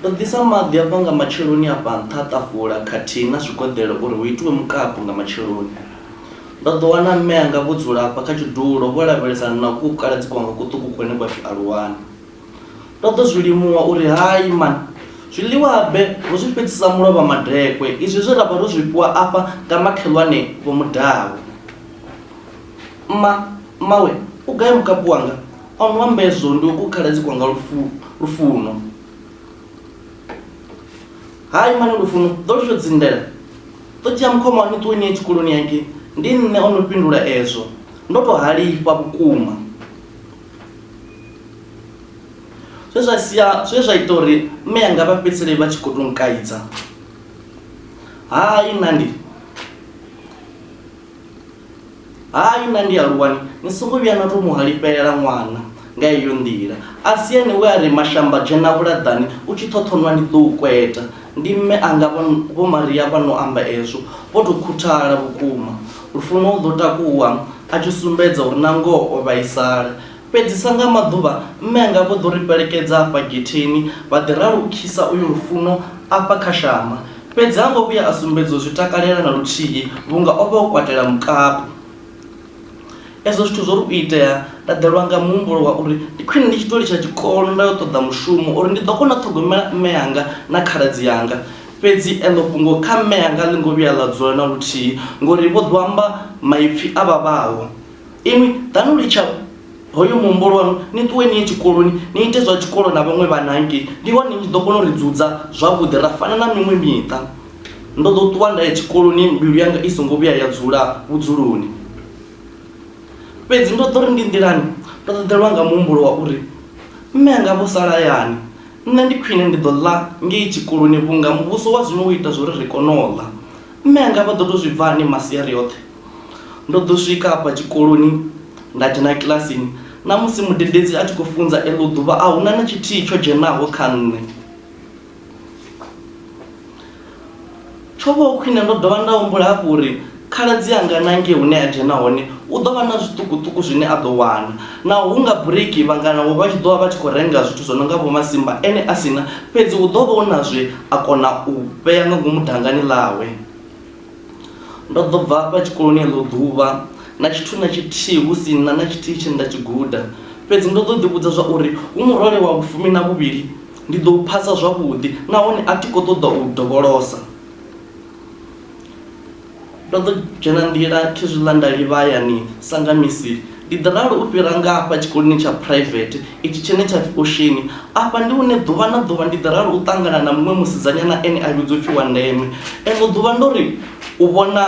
Ndo ḓisa maḓi a bva nga matsheloni a fha nṱha ha ṱafula khathihi na zwigoḓelo uri hu itiwe mukapu nga matsheloni. Ndo ḓo wana mme anga vho dzula afha kha tshidulo vho lavhelesana na kukukaladzi kwanga kuṱuku kune kwa pfi Aluwani. Ndo ḓo zwi limuwa uri, Hai man! Zwiḽiwa-habe ro zwi fhedzisa mulovha madekwe, izwi zwe ra vha ro zwi fhiwa afha nga makhelwane Vho Mudau. Mma, mmawe u gai mukapu wanga? O no amba ezwo ndi u khaladzi kwanga lufuno hai mane lufuno ḓo litsho dzindela ḓo dzhia mukhoma wani ṱuwe niye tshikoloni yake ndi nṋe o no fhindula ezwo ndo tou halifha vhukuma zwe zwa sia zwe zwa ita uri mme yanga vha fhedzisele vha tshi khou tou nkaidza hai nandi Hai, nṋe ndi a lu wani, ni songo vhuya na tou mu halifhelela ṅwana nga heyo nḓila. A si ene we a ri, Mashamba, dzhena vhulaḓani u tshi ṱhoṱhonwa ndi ḓo u kweta? Ndi mme anga vho, Vho Maria vha no amba ezwo vho tou khuthala vhukuma. Lufuno u ḓo takuwa a tshi sumbedza uri nangoho o vhaisala. Fhedzi sa nga maḓuvha, mme anga vho ḓo ri fhelekedza afha getheni vha ḓi ralukhisa uyo Lufuno afha kha shamba. Fhedzi ha ngo vhuya a sumbedza u zwi takalela na luthihi vhunga o vha o kwatela mukapu. Ezwo zwithu zwo ri u itea, nda ḓelwa nga muhumbulo wa uri ndi khwine ndi tshi tou litsha tshikolo nda yo ṱoḓa mushumo uri ndi ḓo kona u ṱhogomela mme anga na khaladzi anga. Fhedzi eḽo fhungo kha mme anga a ḽi ngo vhuya ḽa dzula na luthihi ngori vho ḓo amba maipfi a vhavhaho. Inwi ḓani u litsha hoyo muhumbulwa waṋu, ni ṱuwe ni ye tshikoloni ni ite zwa tshikolo na vhaṅwe vhana hangei. Ndi hone ni tshi ḓo kona u ri dzudza zwavhuḓi ra fana na miṅwe miṱa. Ndo ḓo ṱuwa nda ya tshikoloni mbilu yanga i songo vhuya ya dzula vhudzuloni. Fhedzi ndo ḓo ri ndi nḓilani ndo ṱaḓelwa nga muhumbulo wa uri mme anga vho sala hayani, nṋe ndi khwine ndi ḓo ḽa ngei tshikoloni vhunga muvhuso wa zwino wo ita zwa uri ri kone u ḽa. Mme anga vha ḓo tou zwi bva hani masiari oṱhe? Ndo ḓo swika afha tshikoloni nda dzhena kilasini na musi mudededzi a tshi khou funza eḽo ḓuvha a huna na tshithihi tsho dzhenaho kha nṋe. Tsho vha hu khwine ndo dovha nda humbula hafhu uri khaladzi anga na ngei hune a dzhena hone u ḓo vha na zwiṱukuṱuku zwine a ḓo wana, naho hu nga bureiki vhangana vho vha tshi ḓo vha vha tshi khou renga zwithu zwo no nga vho masimba ene a si na, fhedzi hu ḓo vha hu na zwe a kona u vhea nga ngomu dangani ḽawe. Ndo ḓo bva hafha tshikoloni eḽo ḓuvha na tshithu na tshithihi hu si na na tshithihi tshe nda tshi guda. Fhedzi ndo ḓo ḓivhudza zwa uri hu murole wa vhufumi na vhuvhili ndi ḓo u phasa zwavhuḓi nahone a thi khou ṱoḓa u u dovholosa. Ndo ḓo dzhena nḓila khezwiḽa nda livha hayani sa nga misi Ndi ḓi ralo u fhira nga hafha tshikoloni tsha phuraivethe itshi tshine tsha pfi Osheni. Afha ndi hune ḓuvha na ḓuvha ndi ḓi ralo u ṱangana na muṅwe musidzanyana ene a vhidzwa u pfi Wandeme. Eḽo ḓuvha ndo ri u vhona,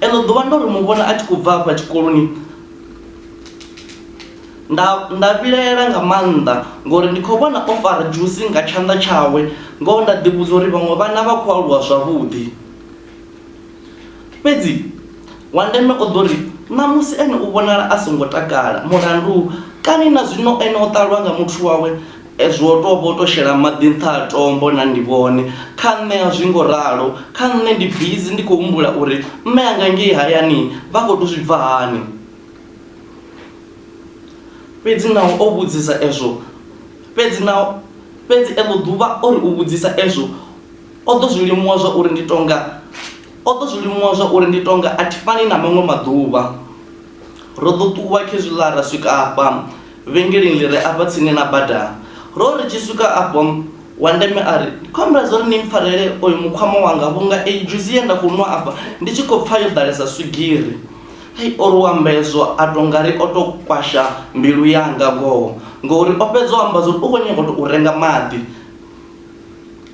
eḽo ḓuvha ndo ri mu vhona a tshi khou bva hafha tshikoloni, nda, nda vhilaela nga maanḓa ngauri ndi khou vhona o fara dzhusi nga tshanḓa tshawe, ngoho nda ḓi vhudza uri vhaṅwe vhana vha khou aluwa zwavhuḓi. Fhedzi wa ndeme o ḓo ri, Ṋamusi ene u vhonala a songo takala. Mulandu? Kani na zwino ene o ṱalwa nga muthu wawe e zwo tou vha u tou shela maḓi nṱha ha tombo na ndi vhone. Kha nṋe a zwi ngo ralo. Kha nṋe ndi bizi ndi khou humbula uri mme anga ngei hayani vha khou tou zwi pfa hani. Fhedzi naho o vhudzisa ezwo, fhedzi naho, fhedzi eḽo ḓuvha o ri u vhudzisa ezwo, O ḓo zwi limuwa zwa uri ndi tonga, o ḓo zwi limuwa zwa uri ndi tonga, a thi fani na maṅwe maḓuvha. Ro ḓo ṱuwa khezwiḽa ra swika afha vhengeleni ḽi re afha tsini na bada. Ro ri tshi swika afho, wa ndeme a ri, Ndi khou humbela zwa uri ni mpfarele oyu mukhwama wanga vhunga eyi dzhusi ye nda khou nwa afha ndi tshi khou pfa yo ḓalesa swigiri. Ai, o ri u amba hezwo a tou nga ri o tou kwasha mbilu yanga ngoho, ngouri o fhedza u amba zwa uri u khou nyaga u tou renga maḓi.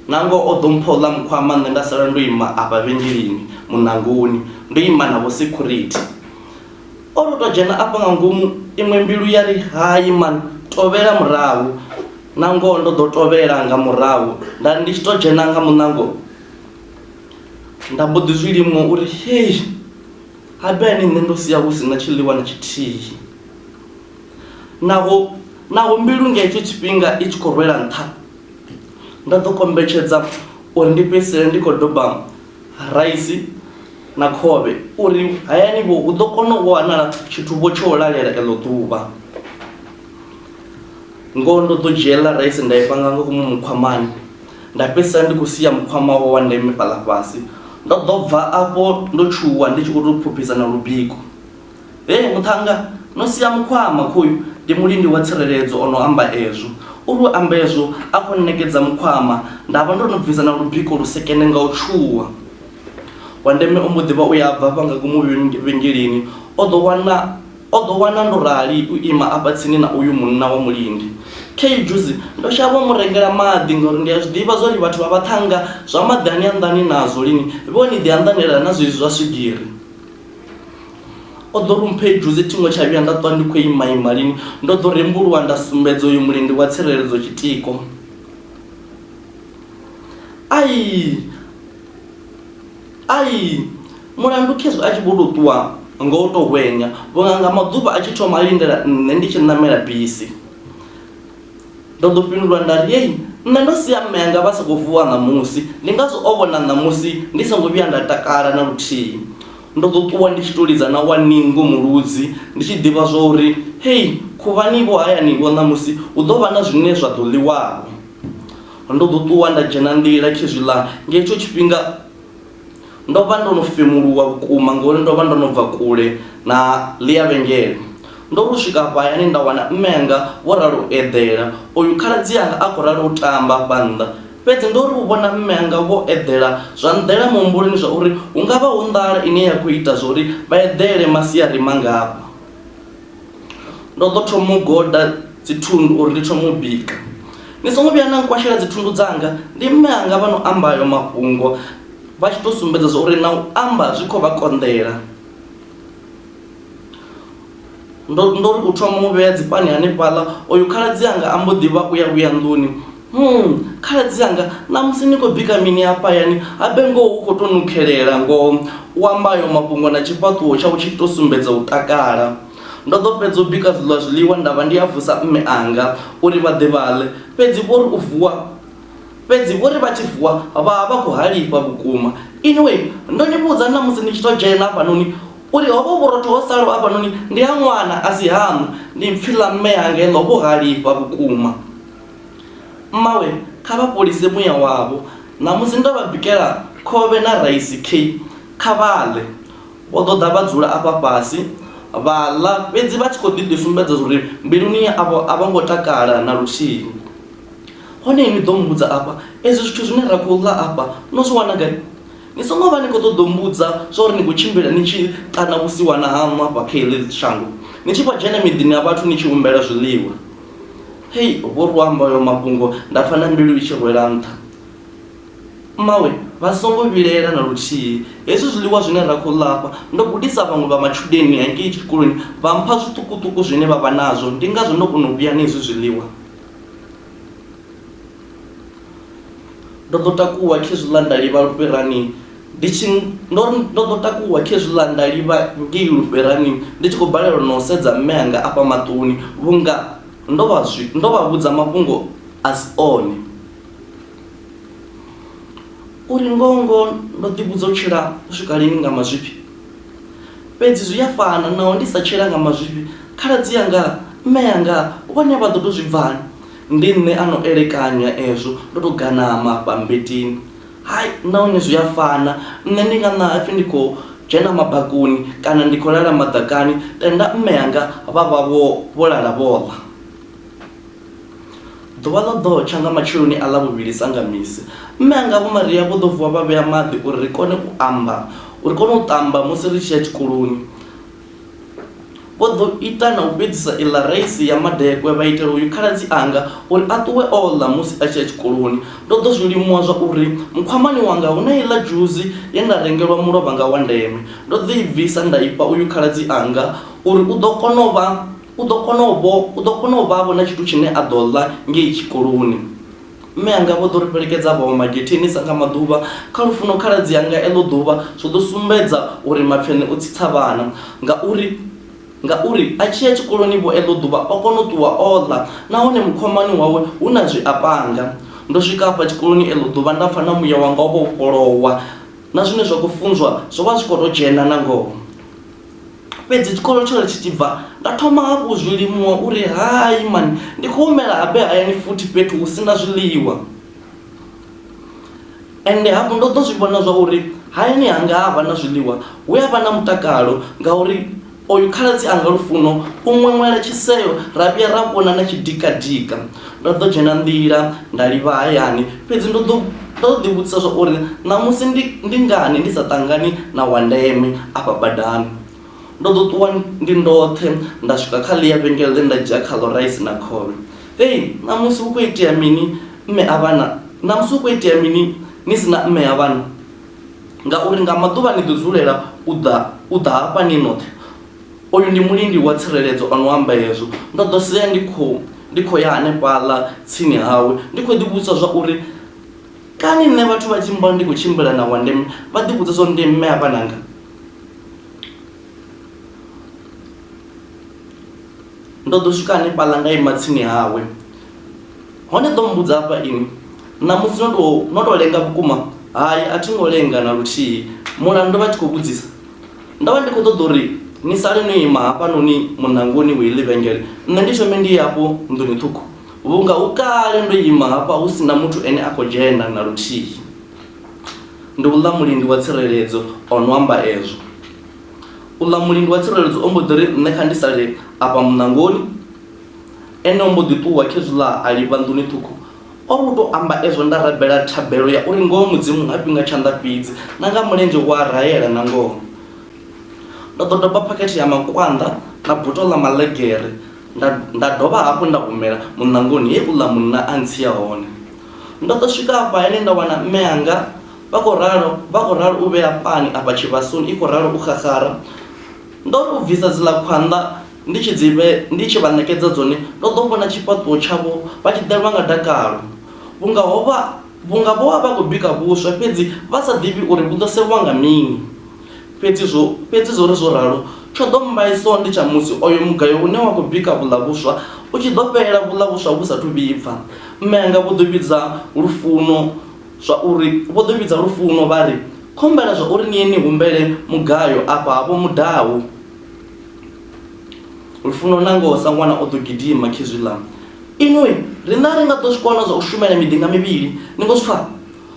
Nangoho o ḓo mpha uḽa mukhwama nṋe nda sala ndo ima afha vhengeleni muṋangoni ndo ima na vho security. O ri u tou dzhena afha nga ngomu iṅwe mbilu ya ri, Hai man, tovhela murahu. Nangoho ndo ḓo tovhela nga murahu nda ri ndi tshi tou dzhena nga muṋango nda mbo ḓi zwi limuwa uri, Hei! Habeni nṋe ndo sia hu si na tshiḽiwa na tshithihi. Naho, naho mbilu nga hetsho tshifhinga i tshi khou rwela nṱha, Nda ḓo kombetshedza uri ndi fhedzisele ndi khou doba raisi na khovhe uri hayani-vho hu ḓo kona u wanala tshithu-vho tsho u lalela eḽo ḓuvha. Ngoho ndo ḓo dzhia iḽa raisi nda i panga nga ngomu mukhwamani, nda fhedzisela ndi khou sia mukhwama wawe wa ndeme fhaḽa fhasi. Ndo ḓo bva afho ndo tshuwa ndi tshi khou tou phuphisa na lubiko. Hee muṱhannga, no sia mukhwama! Khoyu ndi mulindi wa tsireledzo o no amba ezwo. U ri u amba ezwo, a khou nṋekedza mukhwama. Nda vha ndo no bvisa na lubiko lusekene nga u tshuwa. Wa ndeme o mbo ḓi vha u ya bva hafha nga ngomu vhengeleni, o ḓo wana, o ḓo wana ndo rali u ima afha tsini na uyu munna wa mulindi. Khei dzhusi, ndo shavha u mu rengela maḓi, ngauri ndi a zwi ḓivha zwa uri vhathu vha vhaṱhannga zwa maḓi a ni anḓani nazwo lini, vhe o ni ḓi anḓanela na zwezwi zwa swigiri. o ḓo rumpha idzhuzi thingo tsha vhuya nda ṱwa ndi khou imaima lini ndo ḓo rembuluwa nda sumbedza uyu mulendi wa tsireledzo tshitiko ai ai mulandu khezwi a tshi vho tou ṱuwa nga u tou hwenya vhunga nga maḓuvha a tshi thoma a lindela nṋe ndi tshi ṋamela bisi Ndo ḓo fhindula nda ri, Yey, nṋe ndo sia mme anga vha songo vuwa ṋamusi, ndi ngazwo o vhona ṋamusi ndi songo vhuya nda takala na luthihi. Ndo ḓo ṱuwa ndi tshi tou lidza na wa ningo muludzi, ndi tshi ḓivha zwa uri, Hei, khuvhani-vho hayani-vho ṋamusi hu ḓo vha na zwine zwa ḓo ḽiwa-vho. Ndo ḓo ṱuwa nda dzhena nḓila khezwi ḽa nga hetsho tshifhinga. Ndo vha ndo no femuluwa vhukuma ngauri ndo vha ndo no bva kule na ḽia vhengele. Ndo ri u swika afha hayani nda wana mme anga vho ralo u eḓela, oyu khaladzi anga a khou ralo u tamba hafha nnḓa. Fhedzi ndo ri u vhona mme anga vho eḓela zwa nḓela muhumbuloni zwa uri hu nga vha hu nḓala ine ya khou ita zwa uri vha eḓele masiari mangafha. Ndo ḓo thoma u goda dzithundu uri ndi thoma u bika. Ni songo vhuya na nkwashela dzithundu dzanga, ndi mme anga vha no amba ayo mafhungo vha tshi tou sumbedza zwa uri na u amba zwi khou vha konḓela. Ndo ndo ri u thoma u vhea dzipani hanefhaḽa, oyu khaladzi anga a mbo ḓi vha u ya vhuya nḓuni Humm khaladzi anga ṋamusi ni khou bika mini hafha hayani habe ngoho hu khou tou nukhelela ngoho, u amba ayo mafhungo na tshifhaṱuwo tshawe tshi tshi tou sumbedza u takala. Ndo ḓo fhedza u bika zwiḽa zwiḽiwa nda vha ndi a vusa mme anga uri vha ḓe vha ḽe, fhedzi vho ri u vuwa fhedzi vho ri vha tshi vuwa vha vha vha khou halifha vhukuma. Anyway ndo ni vhudza ṋamusi ni tshi tou dzhena hafhanoni uri hovho vhurotho ho salaho hafhanoni ndi ha ṅwana a si haṋu, ndi pfi ḽa mme anga heḽo vho halifha vhukuma. Mmawe, kha vha fholise muya wavho. Ṋamusi ndo vha bikela khovhe na raisi key, kha vha ḽe. Vho ḓo ḓa vha dzula afha fhasi, vha ḽa, fhedzi vha tshi khou ḓi ḓi sumbedza zwa uri mbiluni yavho a vho ngo takala na luthihi. Hone inwi ḓo mmbudza afha, Ezwi zwithu zwine ra khou ḽa afha no zwi wana gai? Ni songo vha ni khou ṱoḓa u mmbudza zwa uri ni khou tshimbila ni tshi ṱana vhusiwana haṋu afha kha heḽi shango, ni tshi vho dzhena miḓini ya vhathu ni tshi humbela zwiḽiwa. hei vho ri amba oyo mafhungo nda pfa na mbilu i tshi rwela nṱha mmawe vha songo vhilaela na luthihi hezwi zwiḽiwa zwine ra khou ḽafha ndo gudisa vhaṅwe vha matshudeni hangei tshikoloni vha mpha zwiṱukuṱuku zwine vha vha nazwo ndi ngazwo ndo kona u vhuya na hezwi zwiḽiwa Ndo ḓo takuwa khezwiḽa nda livha lufherani ndi tshi ndo ndo ḓo takuwa khezwiḽa nda livha ngei lufherani ndi tshi khou balelwa na u sedza mme anga afha maṱoni vhunga ndo vha zwi ndo vha vhudza mafhungo a si one. Uri ngoho ngoho ndo ḓi vhudza u tshila u swika lini nga mazwifhi fhedzi zwi a fana naho ndi sa tshila nga mazwifhi khaladzi anga mme anga vhone vha ḓo tou zwi bvani. Ndi nṋe a no elekanya ezwo ndo tou ganama bammbetini. Hai, nahone zwi a fana. Nṋe ndi nga ṋaha pfi ndi khou dzhena mabakoni kana ndi khou lala maḓakani, tenda mme anga vha vha vho vho lala vho ḽa. Ḓuvha ḽa ḓo tsha nga matsheloni a Ḽavhuvhili sa nga misi, mme anga Vho Maria vho ḓo vuwa vha vhea maḓi uri ri kone u amba, uri kone u ṱamba musi ri tshi ya tshikoloni. Vho ḓo ita na u fhedzisa iḽa raisi ya madekwe vha itela uyu khaladzi anga uri a ṱuwe o ḽa musi a tshi ya tshikoloni. Ndo ḓo zwi limuwa zwa uri mukhwamani wanga hu na iḽa dzhuzi ye nda rengelwa mulovha nga wa ndeme. Ndo ḓo i bvisa nda i fha uyu khaladzi anga uri u ḓo kona u vha, u ḓo kona u vho, u ḓo kona u vha-vho na tshithu tshine a ḓo ḽa ngei tshikoloni. Mme anga vho ḓo ri fhelekedza vha wa magetheni sa nga maḓuvha. Kha lufuno khaladzi anga eḽo ḓuvha zwo ḓo sumbedza uri Mapfene u tsitsa vhana ngauri ngauri a tshi ya tshikoloni vho eḽo ḓuvha o kona u ṱuwa o ḽa nahone mukhwamani wawe hu na zwi a panga. Ndo swika hafha tshikoloni eḽo ḓuvha nda pfa na muya wanga wo vha wo vhofholowa na zwine zwa khou funzwa zwo vha zwi khou tou dzhena nangoho. Fhedzi tshikolo tsho ri tshi tshi bva, nda thoma hafhu u zwi limuwa uri, Hai man, ndi khou humela habe hayani futhi fhethu hu si na zwiḽiwa. Ende hafhu ndo ḓo zwi vhona zwa uri hayani hanga ha vha na zwiḽiwa, hu a vha na mutakalo ngauri oyu khaladzi anga Lufuno u ṅweṅwela tshiseo ra vhuya ra vhona na tshidikadika. Ndo ḓo dzhena nḓila nda livha hayani, fhedzi ndo ḓo ndo ḓo ḓi vhudzisa zwa uri ṋamusi ndi ndi ngani ndi sa ṱangani na wa ndeme afha badani. Ndo ḓo ṱuwa ndi ndoṱhe nda swika kha ḽia vhengele ḽe nda dzhia khaḽo raisi na khovhe. Hei ṋamusi hu kho itea mini mme a vhana ṋamusi hu kho itea mini ni si na mme a vhana ngauri nga maḓuvha ni ḓo dzulela u ḓa u ḓa hafha ni noṱhe. Uyu ndi mulindi wa tsireledzo o no amba hezwo. Ndo ḓo sea ndi khou ndi khou ya hanefhaḽa tsini hawe, ndi khou ḓivhudzisa zwa uri, Kani nṋe vhathu vha tshi mmbona ndi khou tshimbila na Wandeme vha ḓivhudza zwa uri ndi mme a vhananga? Ndo ḓo swika hanefhaḽa nda ima tsini hawe, hone ḓo mmbudza hafha ini, Ṋamusi no tou no tou lenga vhukuma? Hai, a thi ngo lenga na luthihi. Mulandu? vha tshi khou vhudzisa. Ndo vha ndi khou ṱoḓa uri ni sale no ima hafhanoni muṋangoni wa iḽi vhengele, nṋe ndi thome ndi ye afho nḓuni ṱhukhu, vhunga hu kale ndo ima hafha hu si na muthu ene a khou dzhena na luthihi. Ndi uḽa mulindi wa tsireledzo o no amba ezwo. Uḽa mulindi wa tsireledzo o mbo ḓi ri nṋe kha ndi sale afha muṋangoni, ene o mbo ḓi ṱuwa khezwiḽa a livha nḓuni ṱhukhu. O ri u tou amba ezwo nda rabela thabelo ya uri ngoho Mudzimu ha fhi nga tshanḓa fhedzi, na nga mulenzhe u a raela na ngoho. Ndo ḓo doba phakhethe ya makwanḓa na buto ḽa maḽegere nda nda dovha hafhu nda humela muṋangoni he uḽa munna a ntsia hone. Ndo ḓo swika afha hayani nda wana mme anga vha khou ralo vha khou ralo u vhea pani afha tshivhasoni i khou ralo u xaxara. Ndo ri u bvisa dziḽa khwanḓa Ndi tshi dzi vhe, ndi tshi vha ṋekedza dzone, ndo ḓo vhona tshifhaṱuwo tshavho vha tshi ḓelwa nga dakalo, vhunga ho vha, vhunga vho vha vha khou bika vhuswa, fhedzi vha sa ḓivhi uri vhu ḓo sevhwa nga mini. Fhedzi zwo, fhedzi zwo ri zwo ralo, tsho ḓo mmbaisa ndi tsha musi oyo mugayo une wa khou bika vhuḽa vhuswa u tshi ḓo fhela vhuḽa vhuswa vhu sa athu vhibva. Mme anga vho ḓo vhidza Lufuno zwa uri, vho ḓo vhidza Lufuno vha ri, Khumbela zwa uri ni ye ni humbele mugayo afha ha Vho Mudau. lufuno na ngoho sa ṅwana o ḓo gidima khezwi ḽa inwi ri na ri nga ḓo zwi kona zwa u shumela miḓi nga mivhili ni ngo zwi pfha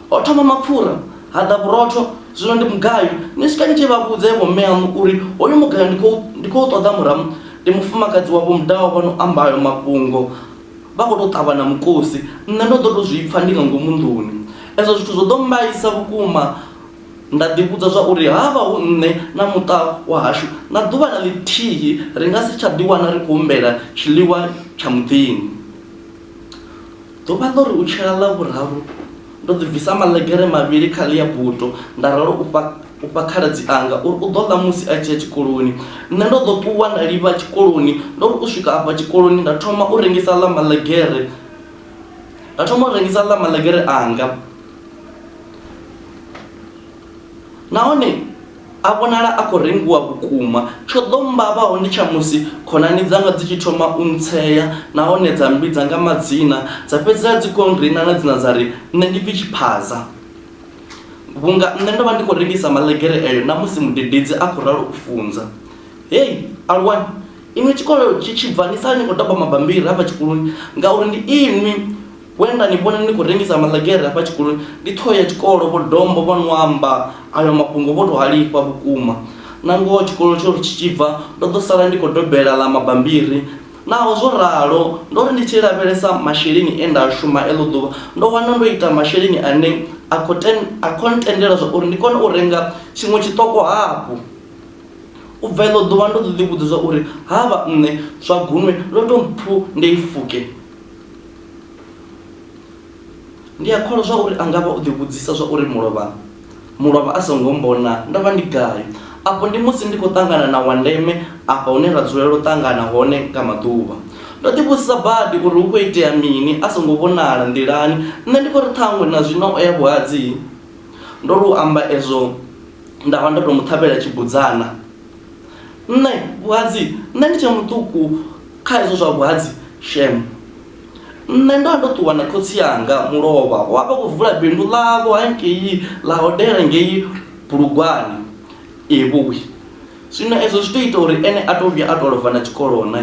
ho thoma mapfura ha ḓa vhurotho zwino ndi mugayo ni swika ni tshi vha vhudze vho mme aṋu uri hoyu mugayo ndi khou ṱoḓa muramu ndi mufumakadzi wavho mudaho vha no ambayo mafhungo vha khou tou ṱavha na mukosi nṋe ndo ḓo tou zwi pfha ndi nga ngomu nḓuni ezwo zwithu zwo ḓo mbaisa vhukuma Nda ḓivhudza zwa uri ha vha hu nṋe na muṱa wa hashu, na ḓuvha na ḽithihi ri nga si tsha ḓiwana ri khou humbela tshiḽiwa tsha muḓini. Ḓuvha ḽo ri u tshela ḽa vhuraru, ndo ḓi bvisa maḽegere mavhili kha ḽia buto nda ralo u fha u fha khaladzi anga uri u ḓo ḽa musi a tshi ya tshikoloni. Nṋe ndo ḓo ṱuwa nda livha tshikoloni, ndo ri u swika afha tshikoloni nda thoma u rengisa ḽa maḽegere, nda thoma u rengisa ḽa maḽegere anga. nahone a vhonala a khou rengiwa vhukuma. Tsho ḓo mmbavhaho ndi tsha musi khonani dzanga dzi tshi thoma u ntsea nahone dza mmbidza nga madzina, dza fhedzisela dzi khou nrina nga dzina dza ri nṋe ndi pfi Tshiphaza. Vhunga nṋe ndo vha ndi khou rengisa maḽegere eyo na musi mudededzi a khou ralo u funza. Hei aluwani, inwi tshikolo tshi tshi bva ni sala ni khou doba mabammbiri hafha tshikoloni ngauri ndi inwi. We nda ni vhona ni khou rengisa maḽegere hafha tshikoloni ndi ṱhoho ya tshikolo, Vho Dombo vho no amba ayo mafhungo vho tou halifha vhukuma. Nangoho tshikolo tsho ri tshi tshi bva ndo ḓo sala ndi khou dobela ḽa mabambiri. Naho zwo ralo, ndo ri ndi tshi lavhelesa masheleni e nda a shuma eḽo ḓuvha, ndo wana ndo ita masheleni ane a khou a khou ntendela zwa uri ndi kone u renga tshiṅwe tshiṱoko hafhu. U bva eḽo ḓuvha ndo ḓo ḓivhudza zwa uri ha vha nṋe Zwagunwe ndo tou mpfu nde i fuke. Ndi a kholwa zwa uri a nga vha o ḓivhudzisa zwa uri mulovha mulovha a songo mbona ndo vha ndi gai. Afho ndi musi ndi khou ṱangana na wa ndeme afha hune ra dzulela u ṱangana hone nga maḓuvha. Ndo ḓivhudzisa badi uri hu khou itea mini a songo vhonala nḓilani, nṋe ndi khou ri ṱhaṅwe na zwino o ya vhuhadzii. Ndo lu amba ezwo nda vha ndo tou mu ṱhavhela tshibudzana. Nṋe vhuhadzi nṋe ndi tshe muṱuku kha hezwo zwa vhuhadzi shem. Nṋe ndo vha ndo ṱuwa na khotsi anga mulovha wa vha khou vula bindu ḽavho hangei ḽa hodela ngei Bulugwane Evhoi. Zwino ezwo zwi to ita uri ene a to vhuya a to lovha na tshikolo na.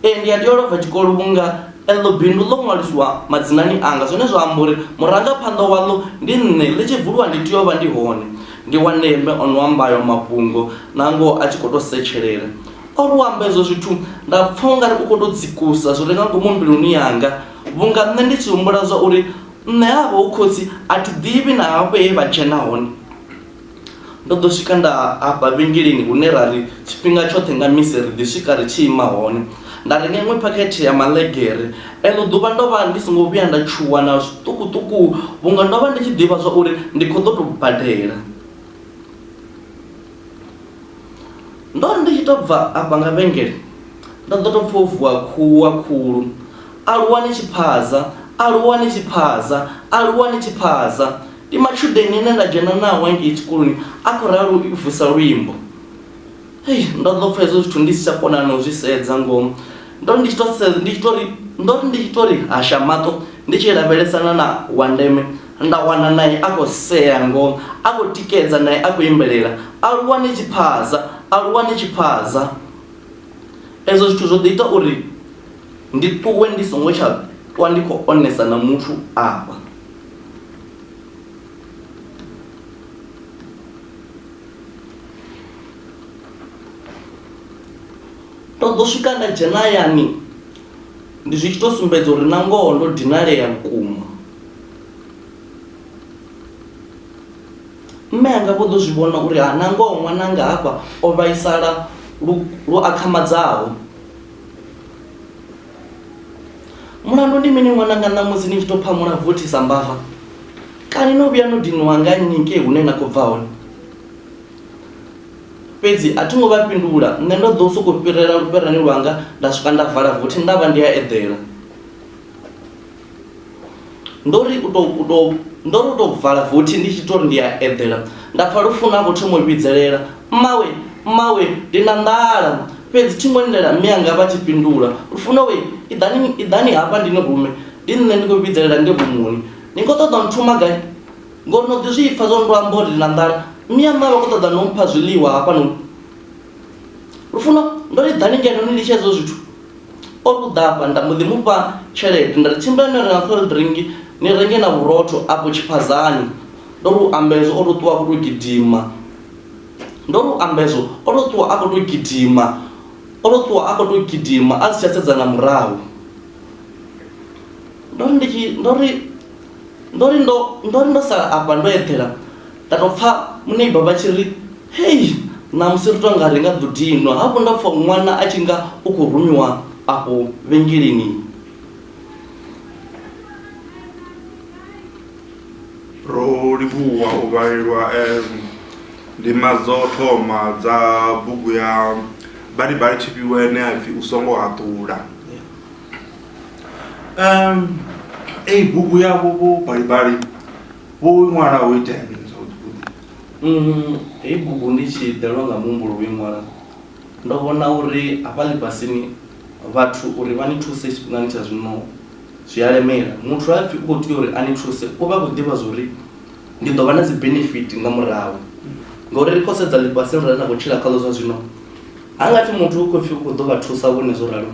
Ee, ndi a tea u lova tshikolo vhunga eḽo bindu ḽo ṅwaliswa madzinani anga. Zwine zwa amba uri murangaphanḓa waḽo ndi nṋe. Ḽi tshi vuliwa ndi tea u vha ndi hone. Ndi wa ndeme, o no amba ayo mafhungo nangoho a tshi khou tou setshelela. O ri u amba izwo zwithu nda pfa u nga ri u khou tou dzikusa zwi re nga ngomu mbiluni yanga vhunga nṋe ndi tshi humbula zwa uri nṋe havha hu khotsi a thi ḓivhi na hafho he vha dzhena hone. Ndo ḓo swika nda afha vhengeleni hune ra ri tshifhinga tshoṱhe nga misi ri ḓi swika ri tshi ima hone. Nda renga iṅwe phakhethe ya maḽegere. Eḽo ḓuvha ndo vha ndi songo vhuya nda tshuwa na zwiṱukuṱuku vhunga ndo vha ndi tshi ḓivha zwa uri ndi khou ḓo tou badela. Ndo ri ndi tshi tou bva afha nga vhengele, ndo ḓo tou pfa ho vuwa khuwa khulu, Aluwa ni tshi phaza! Aluwa ni tshi phaza! Aluwa ni tshi phaza! Ndi matshudeni ane nda dzhena nao ngei tshikoloni, a khou ralo i vusa luimbo. Hei, ndo ḓo pfa hezwo zwithu ndi si tsha kona na u zwi sedza, ngoho. Ndo ri ndi tshi tou sedza, ndi tshi tou ri, ndo ri ndi tshi tou ri hasha maṱo ndi tshi lavhelesana na Wandeme, nda wana nae a khou sea, ngoho, a khou tikedza, nae a khou imbelela, Aluwa ni tshi phaza, aluwa ni tshi phaza. Ezwo zwithu zwo ḓo ita uri ndi ṱuwe ndi songo tsha ṱwa ndi khou onesa na muthu afha. ndo ḓo swika nda dzhena hayani ndi zwi tshi tou sumbedza uri na ngoho ndo dinalea vhukuma mme anga vho ḓo zwi vhona uri ha na ngoho ṅwananga hafha o vhaisala lu akhamadzaho mulandu ndi mini ṅwananga ṋamusi ni tshi tou phamula vothi sa mbava kani no vhuya no dinwa nga nnyi ngei hune na khou bva hone fhedzi a thi ngo vha fhindula nṋe ndo ḓo sokou fhirela lufherani lwanga nda swika nda vala vothi nda vha ndi a eḓela ndo ri u tou u tou ndo ri u tou vala vothi ndi tshi tori ndi a eḓela nda pfa lufuno a khou thoma u vhidzelela mmawe mmawe ndi na nḓala fhedzi thi ngo lindela mme anga vha tshi fhindula lufuno we iḓani iḓani hafha ndi ni rume ndi nṋe ndi khou vhidzelela ndi rumuni ni khou ṱoḓa nthuma gai ngori no ḓi zwi pfa zwo ndo amba uri ndi na nḓala mme anga vha khou ṱoḓa no mpha zwiḽiwa hafha no lufuno ndo ri ḓani ngeno ni litshe hezwo zwithu O ṱuḓa afha nda mbo ḓi mu fha tshelede nda ri, Tshimbilani no renga cold drink ni renge na vhurotho afho tshiphadzani. Ndo ri u amba ezwo o tou ṱuwa a khou tou gidima. Ndo ri u amba ezwo o tou ṱuwa a khou tou gidima. O tou ṱuwa a khou tou gidima a si tsha sedza nga murahu. Ndo ri ndi tshi, ndo ri, ndo ri ndo, ndo ri ndo sala afha ndo eḓela. Nda tou pfa muneiba vha tshi ri, Hei! Ṋamusi ri tou nga ri nga ḓo dinwa. Hafhu nda pfa ṅwana a tshi nga u khou rumiwa afho vhengeleni. Ro livhuwa u vhalelwa e ndima dzo thoma dza bugu ya Balibali Tshifhiwa ine ya pfi U Songo Haṱula. Ee, bugu yavho Vho Balibali. Hoyu ṅwana ho itea mini zwavhuḓi-vhuḓi? Um, heyi bugu ndi tshi ḓelwa nga muhumbulo wo i ṅwala, ndo vhona uri hafha ḽifhasini vhathu uri vha ni thuse tshifhingani tsha zwino zwi a lemela. Muthu ha pfi u khou tea uri a ni thuse, u vha a khou ḓivha zwori ndi ḓo vha na dzi benefit nga murahu. Ngauri ri khou sedza ḽifhasini ḽine ra khou tshila khaḽo zwa zwino, Ha nga pfi muthu u khou pfi u khou ḓo vha thusa vhone zwo ralo,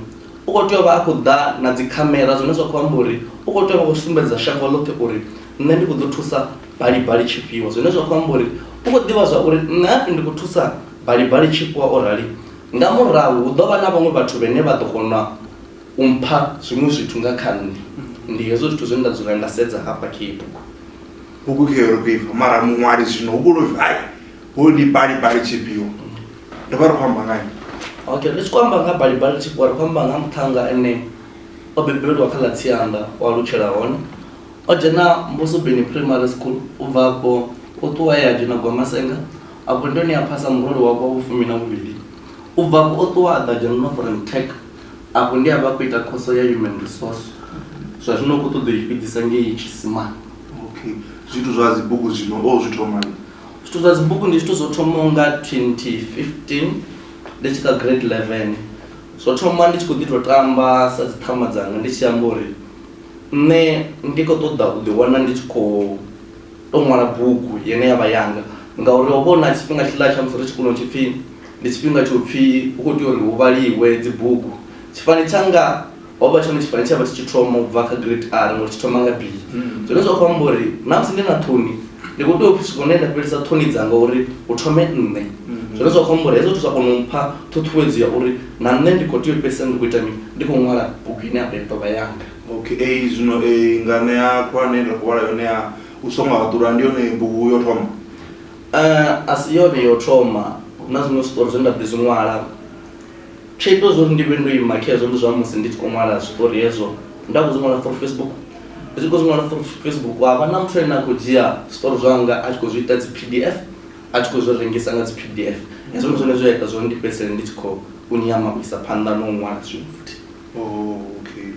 u khou tea u vha a khou ḓa na dzikhamera zwine zwa khou amba uri u khou tea u vha khou sumbedza shango ḽoṱhe uri nṋe ndi khou ḓo thusa Balibali tshifhiwa. Zwine zwa khou amba uri u khou ḓivha zwa uri nṋe ha pfi ndi khou thusa Balibali tshifhiwa o rali, nga murahu hu ḓo vha na vhaṅwe vhathu vhane vha ḓo kona u mpha zwiṅwe zwithu nga kha nṋe. Ndi hezwo zwithu zwine nda dzula nda sedza hafha kha iyi bugu. Bugu khayo ri khou i pfa mara muṅwali zwino hu vhulwa u pfi hai, hoyu ndi Balibali tshifhiwa. ri vha ri khou amba ngani okay ri tshi khou amba nga balibali tshi ri khou amba nga muṱhannga ene o bebelwa kha ḽa tsianda o alutshela hone o dzhena mbuso bini primary school u bva afho o ṱuwa ya dzhena gwamasenga afho ndi hone a phasa murole wa kwa vhufumi na vhuvhili u bva afho o ṱuwa a ḓa dzhena northern tech afho ndi a vha khou ita khoso ya human resource zwa zwino u khou ṱoḓa u i fhedzisa ngei tshisimani okay zwithu zwa dzibugu zwino o zwi thomani Zwithu zwa dzibugu ndi zwithu zwo thomaho nga 2015 ndi tshi kha grade 11. Zwo thoma ndi tshi khou ḓi tou tamba sa dzi ṱhama dzanga ndi tshi amba uri nṋe ndi khou ṱoḓa u ḓiwana ndi tshi khou tou ṅwala bugu yene ya vha yanga ngauri ho vha hu na tshifhinga tshiḽa tsha musi ri tshikoloni tshi pfhi ndi tshifhinga tsho pfhi hu khou tea uri hu vhaliwe dzibugu tshifani tshanga ho vha tshone tshifani tsha vha tshi tshi thoma u bva kha grade r ngori tshi thoma nga b mm. zwine zwa khou amba uri na musi ndi na ṱhoni ndi khou tea u swika hune nda fhelisa ṱhoni dzanga uri u thome nṋe mm. zwine zwa khou amba uri hezwo zwithu zwa kona u mpha ṱhuṱhuwedzo ya uri na nṋe ndi khou tea u fhelisa ndi khou ita mini ndi khou ṅwala bugu ine apa ḓovha yanga okay ei zwino ei ngane ya khulwane nda khou vhala yone ya u songo haḓula ndi yone bugu yo thoma eh, a si yone yo thoma na zwiṅwe zwiṱori zwe nda ḓi zwi ṅwala Tsho ita zwa uri ndi vhe ndo ima khezwo ndi zwa musi ndi tshi khou ṅwala zwiṱori hezwo, nda khou zwi ṅwala for Facebook. Ndi tshi khou zwi ṅwala for Facebook ha vha na muthu ane a khou dzhia zwiṱori zwanga a tshi khou zwi ita dzi P_D_F a tshi khou zwi rengisa nga dzi P_D_F. Hezwo ndi zwone zwe zwa ita zwa uri ndi fhedzisele ndi tshi khou nyama u isa phanḓa na u ṅwala zwiṅwe futhi. Okay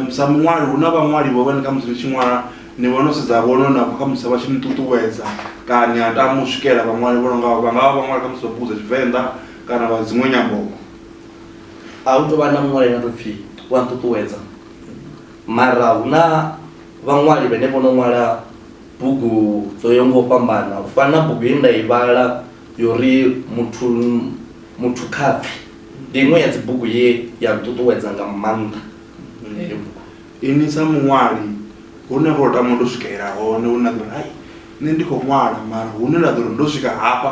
sa muṅwali hu na vhaṅwali vho vhane khamusi ni tshi ṅwala ni vha no sedza vhone na khamusi vha tshi ni ṱuṱuwedza kana ni a tama u swikela vhaṅwali vho no nga vha nga vha vhaṅwali khamusi vha bugu dza Tshivenḓa. kana wa dziṅwe nyambo-vho. A hu tou vha na muṅwali ane a tou pfi u a nṱuṱuwedza, mara hu na vhaṅwali vhane vho no ṅwala bugu dzo yaho nga u fhambana. U fana na bugu ye nda i vhala yo ri muthu muthu khapfhi, ndi iṅwe ya dzibugu ye ya nṱuṱuwedza nga maanḓa heyo bugu. Inwi sa muṅwali hune ho tama u tou swikelela hone hune na ḓo ri hai nṋe ndi khou ṅwala mara hune nda ḓo ri ndo swika hafha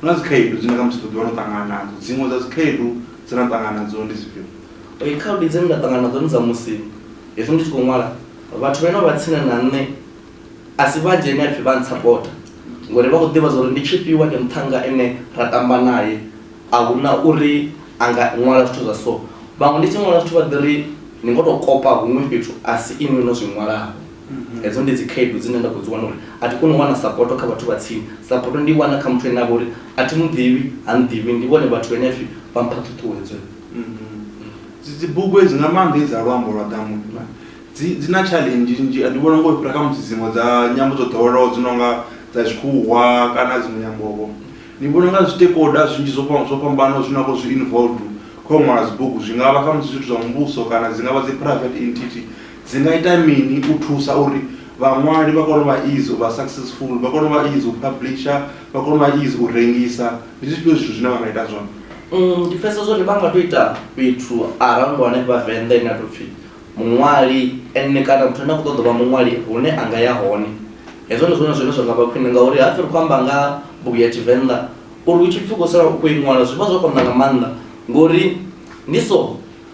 Hu na dzikhaedu dzine kha musi ḓo ḓivha no ṱangana nadzo, dziṅwe dza dzikhaedu dze na ṱangana nadzo ndi dzifhio? Ee, khaedu dzine nda ṱangana nadzo ndi dza musi hezwi ndi tshi khou ṅwala vhathu vhane vha vha tsini na nṋe a si vhanzhi ane a pfhi vha ntsapota ngori vha khou ḓivha zwa uri ndi Tshifhiwa, ndi muṱhannga ane ra tamba nae, a hu na uri a nga ṅwala zwithu zwa so. Vhaṅwe ndi tshi ṅwala zwithu vha ḓi ri ni ngo tou kopa huṅwe fhethu a si inwi no zwi ṅwalaho. mhm. hedzo ndi dzikhaedu dzine nda khou dzi wana uri a thi koni u wana sapoto kha vhathu vha tsini sapoto ndi wana kha muthu ene a vha uri a thi muḓivhi ha nḓivhi ndi vhone vhathu vhene pfhi vha mpha ṱhuṱhuwedzo mhm. dzibugu edzi nga maanḓa edzi a luambo lwa ḓamu dzi na challenge nnzhi ndi vhona ngo fhira kha musi dziṅwe dza nyambo dzo ḓowelaho dzi no nga dza tshikhuwa kana dziṅwe nyambovo ndi vhona nga zwitekoda zwinzhi zwo fhambanaho zwine a khou zwi involved kho ṅwala dzibugu zwi nga vha kha musi zwithu zwa muvhuso kana dzi nga vha dzi private entity Dzi nga ita mini u thusa uri vhaṅwali vha kone u vha easy u vha successful, vha kone u vha easy u publisher, vha kone u vha easy u rengisa? Ndi zwifhio zwithu zwine vha nga ita zwone? Ndi pfesesa zwori vha nga to ita fhethu around hanefha Venḓa ine ya to pfi muṅwali ene kana muthu ane a kho ṱoḓa u vha muṅwali hune anga ya hone. Hezwo ndi zwone zwine zwa nga vha khwine ngauri hapfi ri kho amba nga ha bugu ya Tshivenḓa uri hu tshipfi u khou sala u khou i ṅwala zwivha zwo konḓa nga maanḓa ngori ndi so.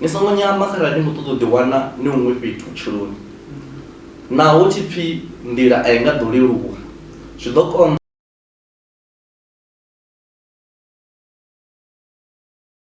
Ni songo nyama kharali ni ṱoḓa u ḓiwana ni huṅwe fhethu vhutshiloni. Naho hu tshi pfi nḓila a i nga ḓo leluwa, zwi ḓo konḓa.